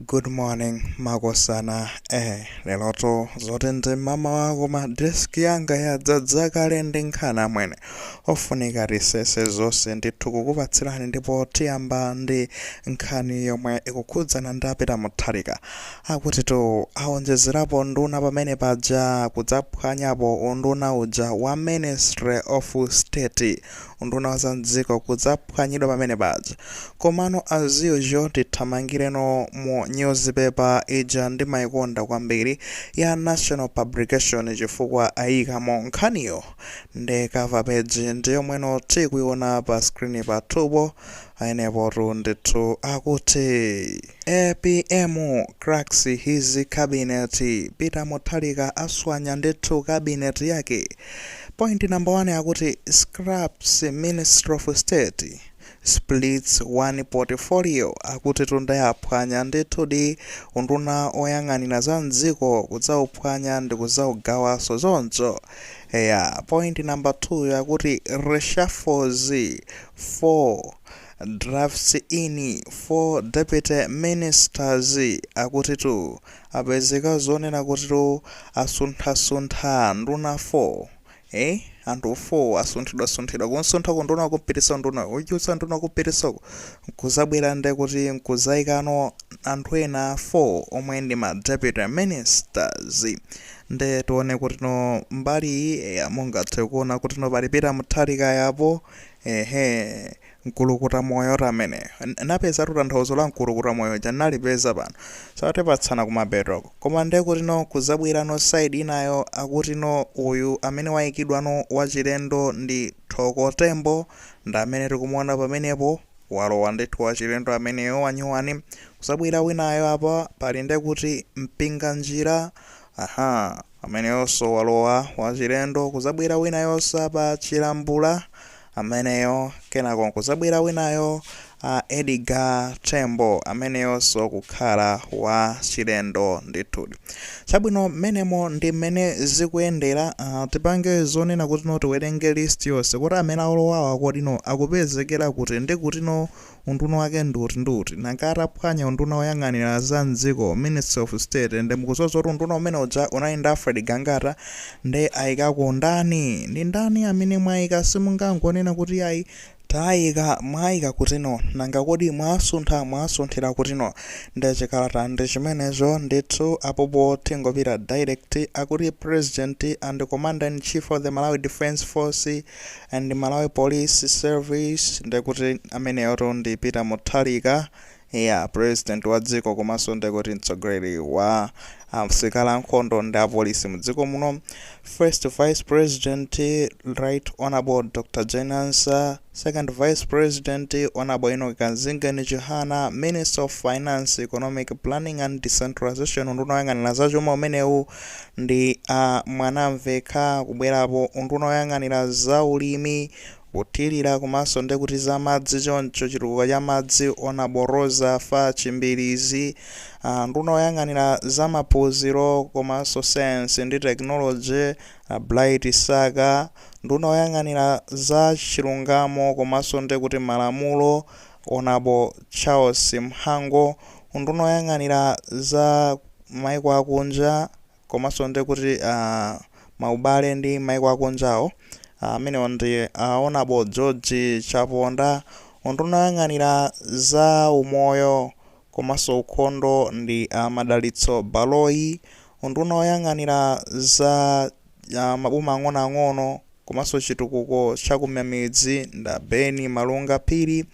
Good morning makosana eh lelotu zoti ndi mamawa koma desk yanga yadzadza kale ndi nkhani amwene ofunika tisese zonse ndithu kukupatsirani ndipo tiyamba ndi nkhani yomwe ikukhudzana ndi a Peter Mutharika akutitu aonjezerapo nduna pamene paja nkudzaphwanyapo unduna uja wa ministry of state unduna wa za mdziko kudzaphwanyidwa pamene paja. Komano as usual tithamangireno mu newspaper ija ndimaikonda kwambiri ya Nation Publication chifukwa aikamo nkhaniyo ndi cover page ndi yomweno tikuiona pa screen pathupo. Pamenepotu ndithu akuti. Apm cracks his cabinet. Peter Mutharika aswanya ndithu cabinet yake. Point number 1 akuti scraps Ministry of State splits one portfolio akuti tu nde waphwanya ndithudi unduna oyang'anira za mdziko kudzauphwanya ndi kudzaugawanso zoncho eya point number 2 yakuti reshuffles 4 Drafts in 4 deputy ministers akutitu apezeka zonena kutitu asunthasuntha nduna 4 ee anthu 4 asunthidwasunthidwa kumsuntha ku unduna kumpitisa unduna kuchotsa unduna kumpitisako nkuzabwera nde kuti nkuzaikano anthu ena 4 omwe ndi ma deputy ministers nde tione kutino mbali iyi eya mungathe kuona kutino pali Peter Mutharika apo Ehe, mkulukuta moyotu ameneyo. N- Napezatu tanthauzo la mkulukuta moyo uja nalipeza pano. so tipatsana kumapetoko. Koma nde kutino kuzabwerano side inayo akutino uyu amene waikidwano wachilendo ndi Thoko Tembo ndi amene tikumuona pamenepo walowa ndithu wachilendo ameneyo wanyuwani. Kuzabwira winayo apa pali nde kuti Mpinganjira Aha! Ameneyonso walowa wachilendo, kuzabwera winayonso apa Chilambula ameneyo, kenako nkuzabwera winayo a Edgar Tembo ameneyonso kukhala wachilendo ndithudi. Chabwino mmenemo ndi mmene zikuyendera, uh, tipange zonena kutino tiwerenge list yonse kuti amene alowawa kodino akupezekera kuti ndi kutino Unduna wake ndi uti ndi uti? Nanga ataphwanya unduna woyang'anira za m'dziko, Ministry of State, nde mukudziwa zoti unduna umene uja unali ndi Alfred Gangata, nde aikako ndani? Ndi ndani amene mwaika? Simungangonena kuti iyayi taika, mwaika kutino? Nanga kodi mwasuntha, mwasunthira kutino? Nde chikalata ndi chimenecho ndithu, apopo tingopita direct, akuti President and Commander-in-Chief of the Malawi Defence Force, and Malawi Police Service ndekuti ameneyotu ndi Peter Mutharika yeah president wa dziko komanso ndekuti mtsogoleri wa asilikali ankhondo ndi apolisi m'dziko muno first vice president right honorable dr Jane Ansah second vice president honorable enoch kanzingeni chihana minister of finance economic planning and decentralization unduna woyang'anira zachuma umenewu ndi a Mwanamvekha kubwerapo, unduna woyang'anira za ulimi, kuthirira komanso nde kuti za madzi choncho chitukuko cha madzi Hon Roza Fatch Mbilizi, a nduna woyang'anira za maphunziro komanso sayansi ndi technology a Bright Msaka, nduna woyang'anira za chilungamo komanso nde kuti malamulo Hon Charles Mhango, unduna woyang'anira za. maiko akunja komanso nde kuti maubale ndi maiko akunjawo amenewo ndi a Honable George Chaponda, unduna woyang'anira za umoyo komanso ukhondo ndi a Madalitso Baloyi, unduna woyang'anira za maboma ang'onoang'ono. komanso chitukuko cha kumamidzi ndi a Ben Malunga Phiri,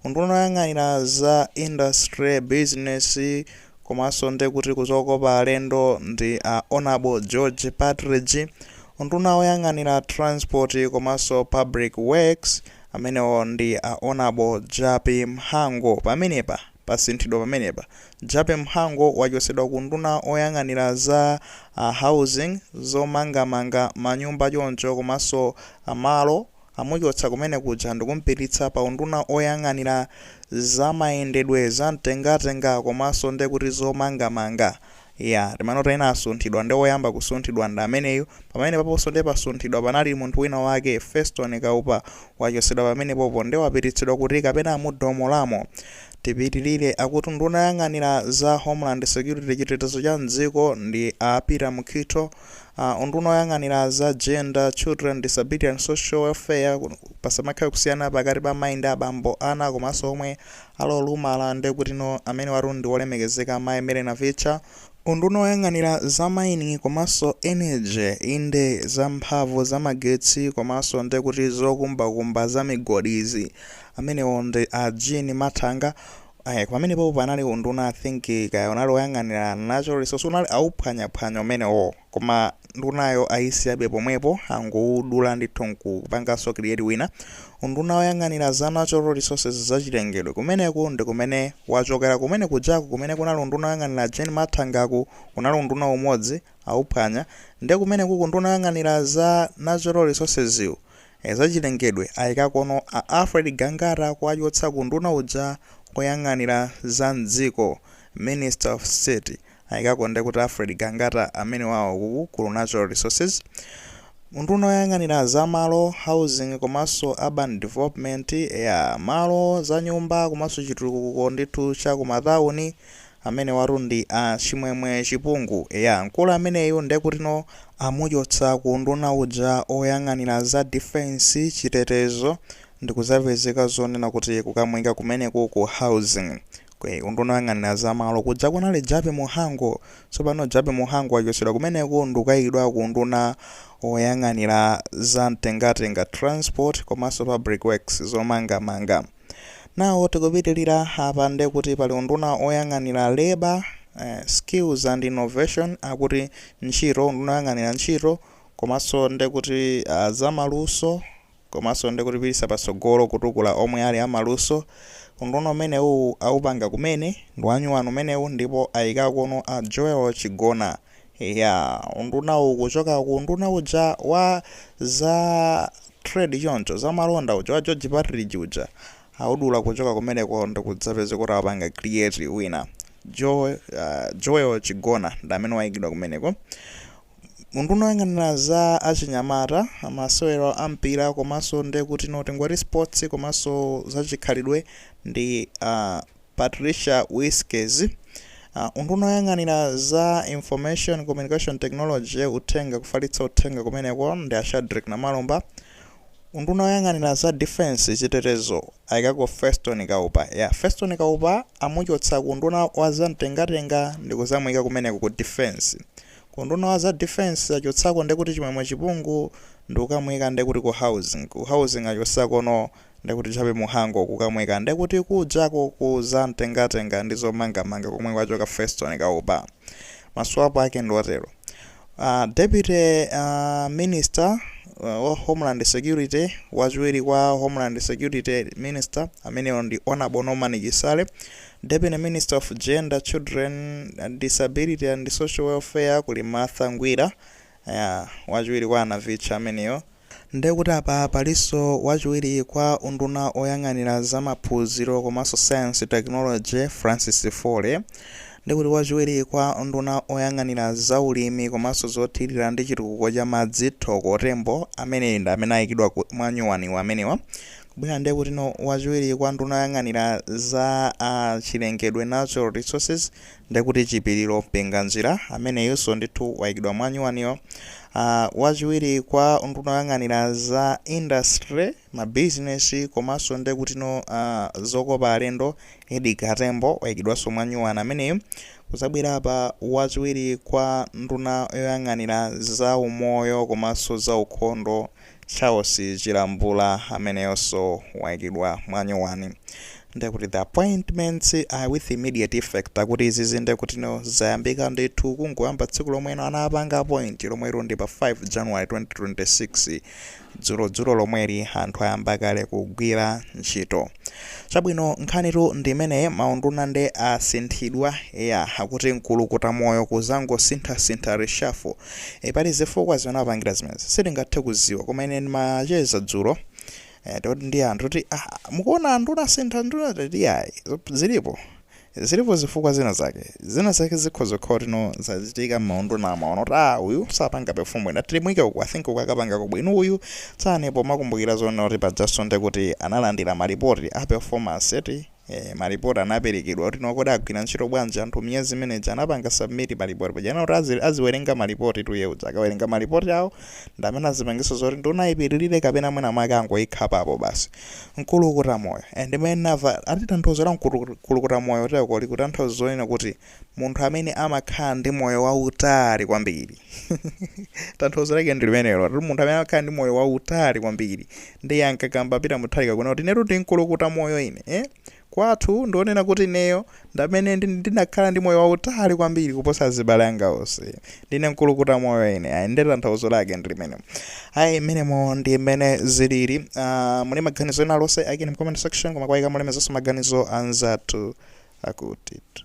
unduna oyang'anira za industry, business komanso nde kuti kuzokopa alendo ndi a Hon George Partridge, unduna oyang'anira transport komanso public works amenewo ndi a Hon Jappie Mhango pamenepa. Pasinthidwa pamenepa, Jappie Mhango wachotsedwa ku unduna oyang'anira za housing, zomangamanga manyumba choncho komanso malo, amuchotsa kumene kuja ndikumpititsa pa unduna oyang'anira zamayendedwe zamtengatenga komanso ndekuti zomangamanga. Eya, timanena ena asunthidwa nde woyamba kusunthidwa ndi ameneyu, pamenepaponso nde pasunthidwa panali munthu wina wake, Feston Kaupa, wachotsedwa pamenepopo nde wapititsidwa kuti kapena mu doma lamo. Tipitilire, akuti nduna yoyang'anira za Homeland Security, chitetezo cha m'dziko, ndi a Peter Mukhito, a unduna woyang'anira za Gender, Children, Disability and Social Welfare, pasamakhale kusiyana pakati pa mayi ndi abambo, ana komanso omwe Ali olumala nde kutino amenewatu ndi olemekezeka Mai Mary Navicha, unduna oyang'anira za mining komanso energy inde za mphamvu za magetsi komanso nde kuti zokumba kumba za migodi izi amenewo ndi a Jean Mathanga, eh pamene popo panali unduna I think kaya unali oyang'anira natural resource unali wauphwanya phwanya umenewo. Koma ndunayo ayisiyabe pomwepo angowudula ndithu nkupanganso create wina. Unduna woyang'anira za Natural Resources, za chilengedwe, kumeneku ndi kumene wachokera kumene kujaku kumene kunali unduna woyang'anira Jean Mathangaku kunali unduna umodzi awuphwanya nde kumenekuku nduna yoyang'anira za Natural Resourcesyu ee za chilengedwe ayikakono a Alfred Gangata kuwachotsa ku unduna uja woyang'anira za m'dziko, Minister of State. Aikako nde kuti Alfred Gangata amenewawo ku ku Natural Resources, unduna oyang'anira za malo, housing komanso urban development, eya malo, za nyumba komanso chitukuko ndithu cha ku matauni, amenewatu ndi a Chimwemwe Chipungu. Eya mkulu ameneyu nde kutino amuchotsa ku unduna uja oyang'anira za defence, chitetezo, ndikuzapezeka zonena kuti kukamuika kumeneku ku housing. Unduna oyang'anira za malo kuja kunali Jappie Mhango, tsopano Jappie Mhango achotsedwa kumeneko ndikukaikidwa ku unduna oyang'anira za mtengatenga, transport, komanso public works, zomangamanga. Nawo tikupitilira apa ndekuti pali unduna oyang'anira labour, eh, skills and innovation akuti ntchito, unduna oyang'anira ntchito komanso ndekuti uh, zamaluso, komanso ndikutino kupititsa patsogolo kutukula omwe ali amaluso unduna umenewu awupanga kumene ndiwanyuwani umenewu ndipo ayikakono a joel chigona eyaa undunawu kuchoka ku unduna uja wa za trade choncho zamalonda uja wa george partridge uja awudula kuchoka kumeneko ndikudzapezeka kuti awupanga create wina joe joel chigona ndamene wayikidwa kumeneko Unduna oyang'anira za achinyamata, masewero a mpira komanso ndekutino tingoti Sports komanso za chikhalidwe ndi a Patricia Wiskes. Unduna oyang'anira za Information Communication Technology, uthenga, kufalitsa uthenga kumeneko ndi a Shadric Namalomba. Unduna oyang'anira za Defence, chitetezo, ayikako Feston Kaupa. Ya, Feston Kaupa amuchotsa ku unduna wa za mtengatenga ndikuzamuyika kumeneko ku Defence. Kunduna wa za defence achotsako ndekuti chimwemwe chipungu ndikukamuika ndekuti ku housing ku housing achotsakono ndekuti jappie mhango kukamuika ndekuti kujako ku za mtengatenga ndi zomangamanga komwe kwachoka feston kaupa maswapo ake ndiotero uh, deputy uh, minister uh, wa homeland security wachiwiri kwa homeland security minister ameneyo ndi honorable norman chisale Deputy Minister of Gender, Children, Disability and Social Welfare kuli Martha Ngwira eyaa wachiwiri kwa a Navitcha ameneyo. Ndekuti apa palinso wachiwiri kwa unduna oyang'anira za maphunziro komanso Science, Technology, Francis Foley, ndikuti wachiwiri kwa unduna oyang'anira za ulimi komanso zothilira ndi chitukuko cha madzi Thoko Tembo amene ndi amene ayikidwa mwanyuwaniwa amenewa. Kubwera ndiye kuti no wachiwiri kwa nduna yoyang'anira za a chilengedwe, natural resources, ndiye kuti Chipiliro Mpinganjira ameneyunso ndithu waikidwa mwanyuwaniyo. A wachiwiri kwa nduna yoyang'anira za industry, mabizinesi komanso ndiye kuti no a zokopa alendo Edgar Tembo waikidwanso mwanyuwani ameneyu. Kuzabwera apa wachiwiri kwa nduna yoyang'anira za umoyo komanso za ukhondo Charles Chilambula ameneyonso waikidwa mwanyowani ndekuti the appointments are with immediate effect akuti izizi ndekutino zayambika ndithu kungoyamba tsiku lomwe anapanga appoint lomwero ndi pa 5 january 2026 dzulodzulo lomweli anthu ayamba kale kugwira ntchito chabwino nkhanitu ndi imene maunduna nde asinthidwa eya akuti mkulukuta moyo kuzangosinthasintha reshuffle E, pali zifukwa zimene apangira zimenezi sitingathe kuziwa koma ine ndimacheza dzulo e, toti ndi anthu kuti ah, mukuona anthu unasintha nduna tati ayi zop- zilipo zilipo zifukwa zina zake zina zake zikhoza kukhala kuti no zachitika m'maunduna amaona kuti ah uyu sapanga perform bwino timuike uku i think uku akapangako bwino uyu tsani pomakumbukira zonena kuti pajaso ndi kuti analandira malipoti a performance eti Eeh malipoti anaperekedwa kuti no kodi agwira ntchito bwanji anthu miyezi imene ija anapanga submit malipoti paja anena kuti azi aziwerenga malipoti 2 year uja akawerenga malipoti awo ndamene azipangiso zoti nduna ipitilire kapena mwina mwake angoikhapapo basi nkulukuta moyo and mene nava ati tanthauzo la nkulukuta moyo teko likutanthauza zonena kuti munthu amene amakhala ndi moyo wautali kwambiri tanthauzo lake ndi limenelo kuti munthu amene amakhala ndi moyo wautali kwambiri ndiye ankakamba Peter Mutharika kunena kuti inetu ndi nkulukuta moyo ine eh? kwathu ndionena kuti ineyo ndamene ndi- ndinakhala ndi moyo wautali kwambiri kuposa azibale anga onse ndine nkulukuta moyo ine ayi ndi tanthauzo lake ndi limenelo ayi mmenemo ndi mmene zilili Ah, muli maganizo ena aliwonse aikeni mu comment section koma kuwaika mulemekezenso maganizo anzathu akutitu